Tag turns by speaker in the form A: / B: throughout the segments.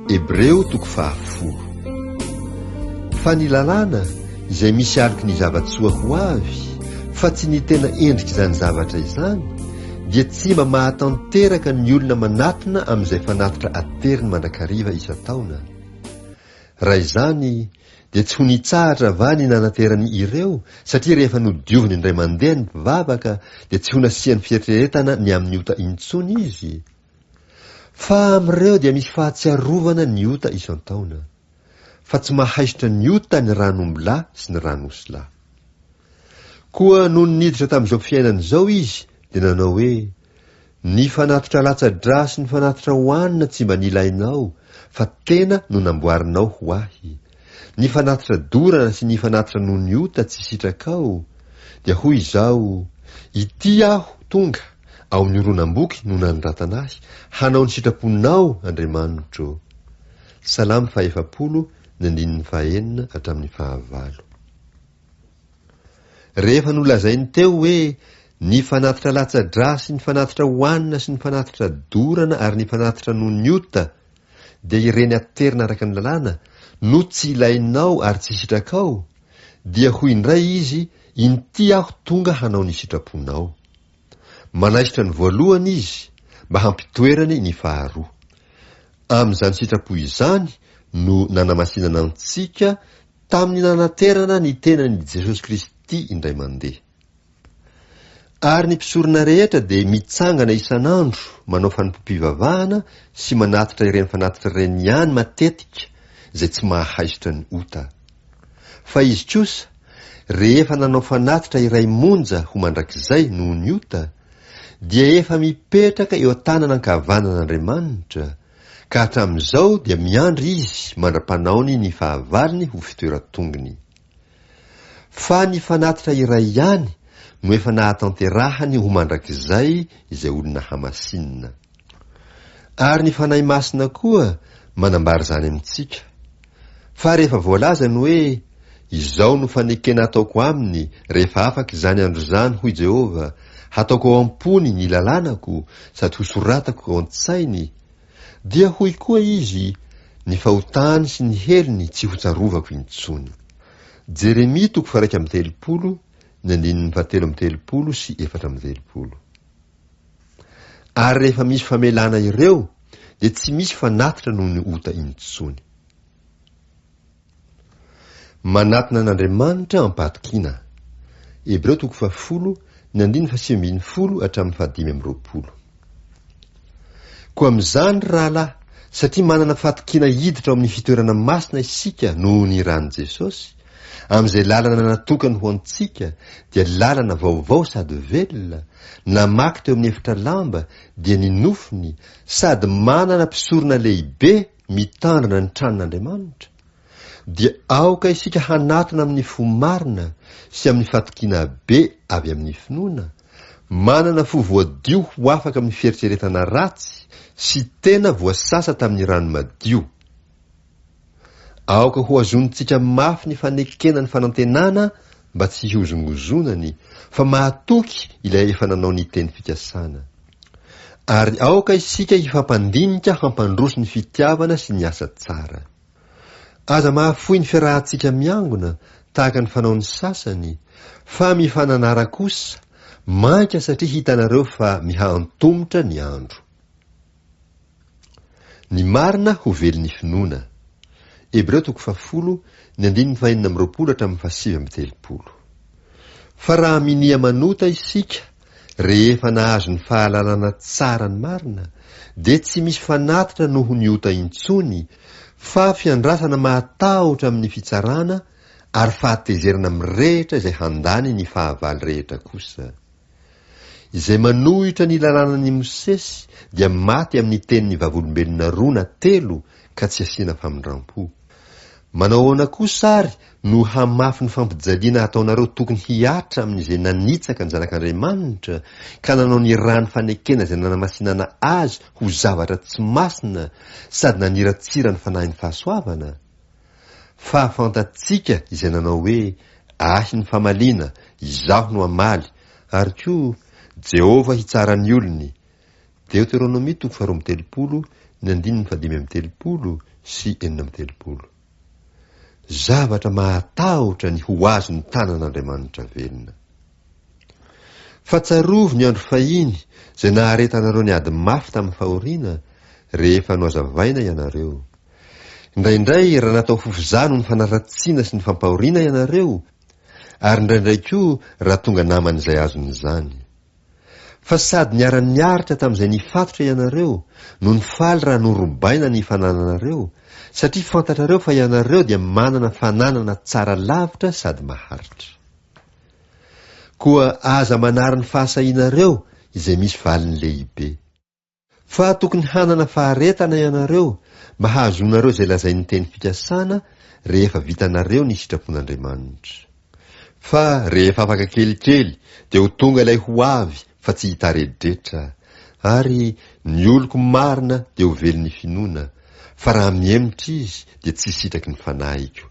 A: Hebreo toko fahafolo. Fa ny lalàna, izay misy aloky ny zava-tsoa ho avy, fa tsy ny tena endrik'izany zavatra izany, dia tsy mba mahatanteraka ny olona manatona amin'izay fanatitra ateriny mandrakariva isan-taona. Raha izany, dia tsy ho nitsahatra va ny nanaterany ireo, satria rehefa nodioviny indray mandeha ny mpivavaka, dia tsy ho nasiany fieritreretana ny amin'ny ota intsony izy? Fa amin'ireo dia misy fahatsiarovana ny ota isan-taona, fa tsy mahaisotra ny ota ny ran'ombilahy sy ny ran'osilahy. Koa nony niditra tamin'izao fiainana izao izy, dia nanao hoe, Ny fanatitra latsa-dra sy ny fanatitra ohanina tsy mba nilainao, fa tena no namboarinao ho ahy, Ny fanatitra dorana sy ny fanatitra noho ny ota tsy sitrakao, dia hoy izao, Ity aho tonga, ao amin'ny horonam-boky no nanoratana ahy, hanao ny sitraponao, Andriamanitro. Salamo fahefapolo, ny andininy fahenina hatramin'ny fahavalo. Rehefa nolazainy teo hoe, Ny fanatitra latsa-dra sy ny fanatitra hohanina sy ny fanatitra dorana ary ny fanatitra noho ny ota, dia ireny aterina araka ny lalàna no tsy ilainao ary tsy sitrakao, dia hoy indray izy inty aho tonga hanao ny sitraponao. Manaisotra ny voalohany izy mba hampitoerany ny faharoa. Amin'izany sitrapo izany no nanamasinana antsika tamin'ny nanaterana ny tenany Jesosy Kristy indray mandeha. Ary ny mpisorona rehetra dia mitsangana isan'andro manao fanompoam-pivavahana sy manatitra ireny fanatitra ireny ihany matetika izay tsy mahaisotra ny ota. Fa izy kosa, rehefa nanao fanatitra iray monja ho mandrakizay noho ny ota, dia efa mipetraka eo an-tanana ankavanan'Andriamanitra, ka hatramin'izao dia miandry izy mandra-panaony ny fahavalony ho fitoeran-tongony. Fa ny fanatitra iray ihany no efa nahatanterahany ho mandrakizay izay olona hamasinina. Ary ny Fanahy Masina koa manambara izany amintsika. Fa rehefa voalaza ny hoe, Izao no fanekena ataoko aminy rehefa afaka izany andro izany, hoy Jehovah, Hataoko ao am-pony ny lalànako sady hosoratako ao an-tsainy, Dia hoy koa Izy, Ny fahotany sy ny helony tsy hotsarovako intsony. Jeremia toko faha-iraika amby telopolo, ny andininy fahatelo amby telopolo sy efatra amby telopolo. Ary rehefa misy famelana ireo, dia tsy misy fanatitra noho ny ota intsony. Manatona an'Andriamanitra am-pahatokiana. Hebreo toko fahafolo, ny andininy fahasivy ambin'ny folo hatramin'ny fahadimy amby roapolo. Koa amin'izany, ry rahalahy, satria manana fahatokiana hiditra ao amin'ny fitoerana masina isika noho ny ran'i Jesosy, amin'izay lalana natokany ho antsika, dia lalana vaovao sady velona, namaky teo amin'ny efitra lamba, dia ny nofony, sady manana mpisorona lehibe, mitandrina ny tranon'Andriamanitra, dia aoka isika hanatona amin'ny fo marina sy amin'ny fatokiana be avy amin'ny finoana, manana fo voadio ho afaka amin'ny fieritreretana ratsy sy tena voasasa tamin'ny rano madio. Aoka hohazonintsika mafy ny fanekena ny fanantenana mba tsy hihozongozonany fa mahatoky ilay efa nanao ny teny fikasana. Ary aoka isika hifampandinika hampandroso ny fitiavana sy ny asa tsara. Aza mahafoy ny fiarahantsika miangona, tahaka ny fanaon'ny sasany, fa mifananara kosa, mainka satria hitanareo fa miha-antomotra ny andro. Ny marina ho vely ny finoana. Hebreo toko fahafolo, ny andininy fahenina amby roapolo hatramin'ny fahasivy amby telopolo. Fa raha minia manota isika rehefa nahazo ny fahalalana tsara ny marina, dia tsy misy fanatitra noho ny ota intsony, fa fiandrasana mahatahotra amin'ny fitsarana ary fahatezerana mirehitra izay handany ny fahavalo rehetra kosa. Izay manohitra ny lalanan'i Mosesy dia maty amin'ny tenin'ny vavolombelona roa na telo ka tsy asiana famindrampo. Manao ahoana kosa ary no hamafy ny fampijaliana ataonareo tokony hihatra amin'izay nanitsaka ny Zanak'Andriamanitra ka nanao ny ràn'ny fanekena izay nanamasinana Azy ho zavatra tsy masina sady naniratsira ny fanahin'ny fahasoavana? Fa fantatsika izay nanao hoe, Ahy ny famaliana, Izaho no hamaly, ary koa, Jehovah hitsara ny olony. Deoteronomia toko faharoa amby telopolo, ny andininy fahadimy amby telopolo sy enina amby telopolo. Zavatra mahatahotra ny ho azon'ny tanan'Andriamanitra velona! Fa tsarovy ny andro fahiny izay naharetanareo ny ady mafy tamin'ny fahoriana, rehefa nohazavaina ianareo. Indraindray, raha natao fofozaha noho ny fanaratsiana sy ny fampahoriana ianareo, ary indraindray koa raha tonga naman'izay azony izany. Fa sady niara-niaritra tamin'izay nifatotra ianareo, no nifaly raha norobaina ny fanananareo, satria fantatrareo fa ianareo dia manana fananana tsara lavitra sady maharitra. Koa aza manary ny fahasahianareo izay misy valiny lehibe. Fa tokony hanana faharetana ianareo mba hahazoanareo izay lazain'ny teny fikasana rehefa vitanareo ny sitrapon'Andriamanitra. Fa rehefa afaka kelikely dia ho tonga ilay ho avy fa tsy hitaredretra, ary ny oloko marina dia ho velon'ny finoana, fa raha mihemotra izy dia tsy hisitraky ny fanahiko.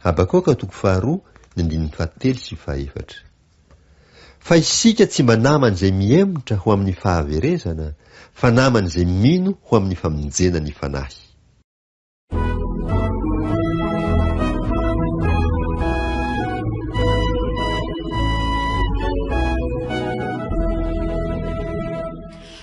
A: Habakoka toko faharoa ny andininy fahatelo sy fahaefatra. Fa isika tsy mba naman' izay mihemotra ho amin'ny fahaverezana, fa naman' izay mino ho amin'ny famonjena ny fanahy.